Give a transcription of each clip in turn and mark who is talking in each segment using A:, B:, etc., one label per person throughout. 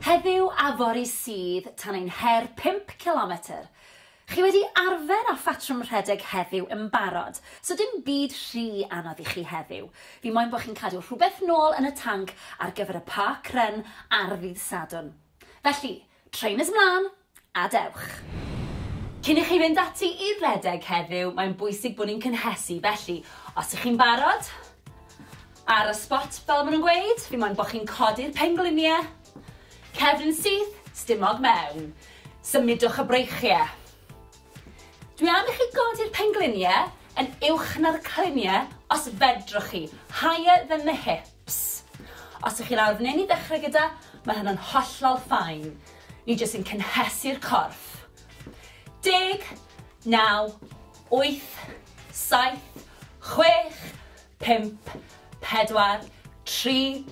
A: Heddiw a fory sydd tan ein her pump cilometr. Chi wedi arfer â phatrwm rhedeg heddiw yn barod, so dim byd rhy anodd i chi heddiw. Fi moyn bod chi'n cadw rhywbeth nôl yn y tanc ar gyfer y park run ar ddydd Sadwrn. Felly, trainers mlân! a dewch. Cyn i chi fynd ati i redeg heddiw, mae'n bwysig bod ni'n cynhesu, felly, os ych chi'n barod, ar y spot, fel maen nhw'n gweud, fi moyn bod chi'n codi'r pengliniau, cefn yn syth, stumog mewn. Symudwch y breichiau. Dwi am i chi godi'r pengliniau yn uwch na'r cliniau, os fedrwch chi, higher than the hip. Ps. Os ych chi lawr f'nyn i ddechrau gyda, mae hynna'n hollol fine. Ni jyst yn cynhesu'r corff. Deg, naw, wyth, saith, chwech, pump, pedwar, tri,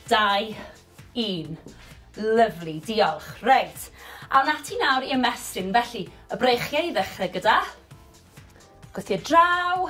A: dau, un. Lyfli, diolch. Reit, awn ati nawr i ymestyn, felly, y breichiau i ddechrau gyda. Gwthio draw.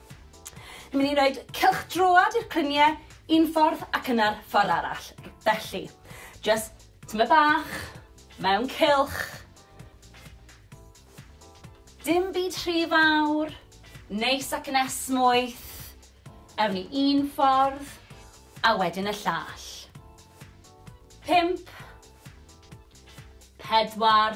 A: Ni'n mynd i roed cylch droad i'r clyniau un ffordd ac yna'r ffordd arall. Felly, just tyma bach, mewn cylch. Dim byd rhy fawr, neis ac yn esmwyth. Ewn ni un ffordd, a wedyn y llall. Pimp. Pedwar.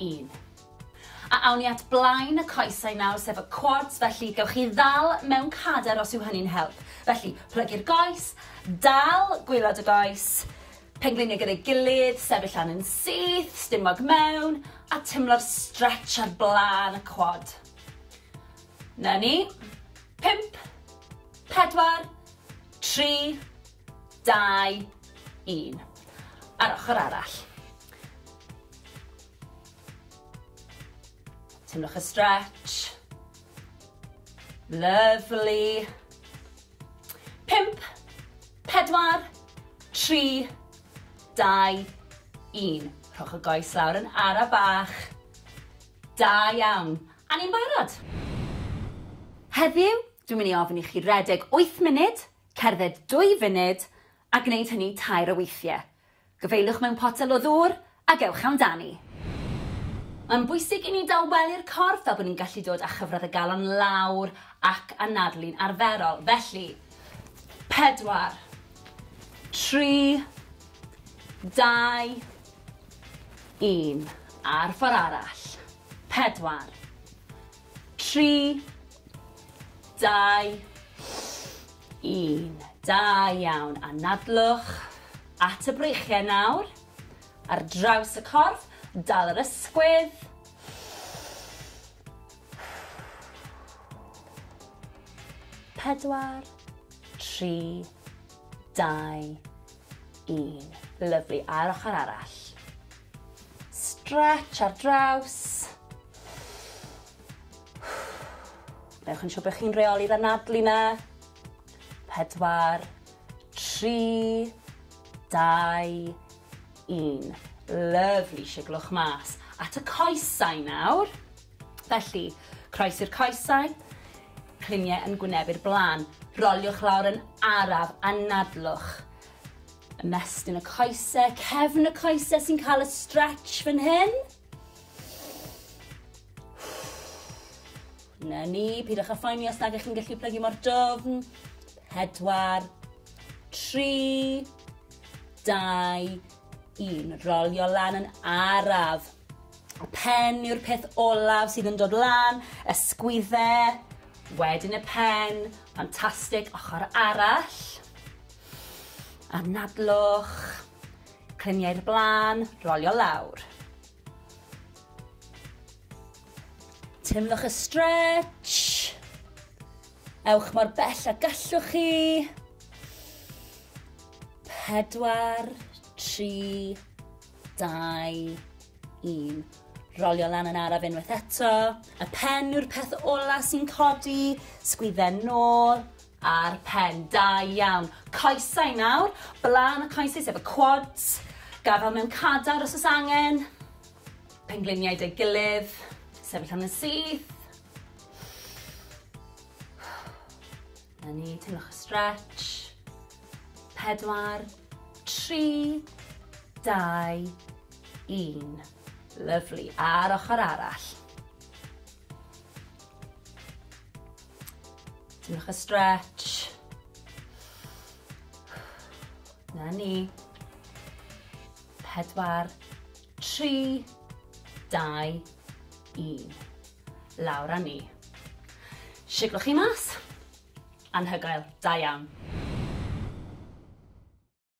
A: un. A awn ni at blaen y coesau nawr, sef y quads, felly gewch chi ddal mewn cader os yw hynny'n help. Felly, plygu'r goes, dal gwylod y goes, pengliniau gyda'i gilydd, sefyll lan yn syth, stumog mewn, a timlo'r stretch ar blaen y quad. Na ni. Pimp, pedwar, tri, dau, un. A'r ochr arall. Teimlwch y stretch. Lovely. Pimp, pedwar, tri, dau, un. Rhowch y goes lawr yn ara bach. Da iawn. A ni'n barod. Heddiw, dwi'n mynd i ofyn i chi redeg 8 munud Cerdded dwy funud, a gwneud hynny tair o weithiau. Gyfeiliwch mewn potel o ddŵr ac ewch amdani. Mae'n bwysig i ni dawelu'r corff fel bod ni'n gallu dod â chyfradd y galon lawr ac anadlu'n arferol. Felly, pedwar, tri, dau, un. A'r ffordd arall. Pedwar, 3, 2, 1. Da iawn. Anadlwch at y breichiau nawr. Ar draws y corff, dal yr ysgwydd. Pedwar, tri, dau, un. Lyfli. A'r ochr arall. Stretch ar draws. Newch yn siŵr bod chi'n reoli'r anadlu na. Pedwar, tri, dau, un. Lyfli, siglwch mas. At y coesau nawr. Felly, croes i'r coesau, cliniau yn gwnebu'r blaen. Roliwch lawr yn araf, anadlwch. Ymestyn y coese, cefn y coese sy'n cael y stretch fan hyn. Na ni, pidwch â phoeni os nag ych chi'n gallu plygu mor dofn. Pedwar, tri, dau, un. Rolio lan yn araf. Y pen yw'r peth olaf sydd yn dod lan, y sgwydde, wedyn y pen, ffantastig, ochr arall. Anadlwch, clymu i'r blaen, rolio lawr. Teimlwch y stretch. Ewch mor bell a gallwch chi. Pedwar, tri, dau, un. Rolio lan yn araf unwaith eto. Y pen yw'r peth ola sy'n codi. Sgwydden nôl. Ar pen, da iawn. Coesau nawr, blaen y coesau sef y quads, gafal mewn cadar os oes angen, pengliniau deg gilydd, sefyll am yn syth. Na ni, teimlwch y stretch. Pedwar, tri, dau, un. Lyflu, a'r ochr arall. Diolch y stretch. Na ni. Pedwar, tri, dau, un. Lawr a ni. Siglwch chi mas. Anhygoel, da iawn.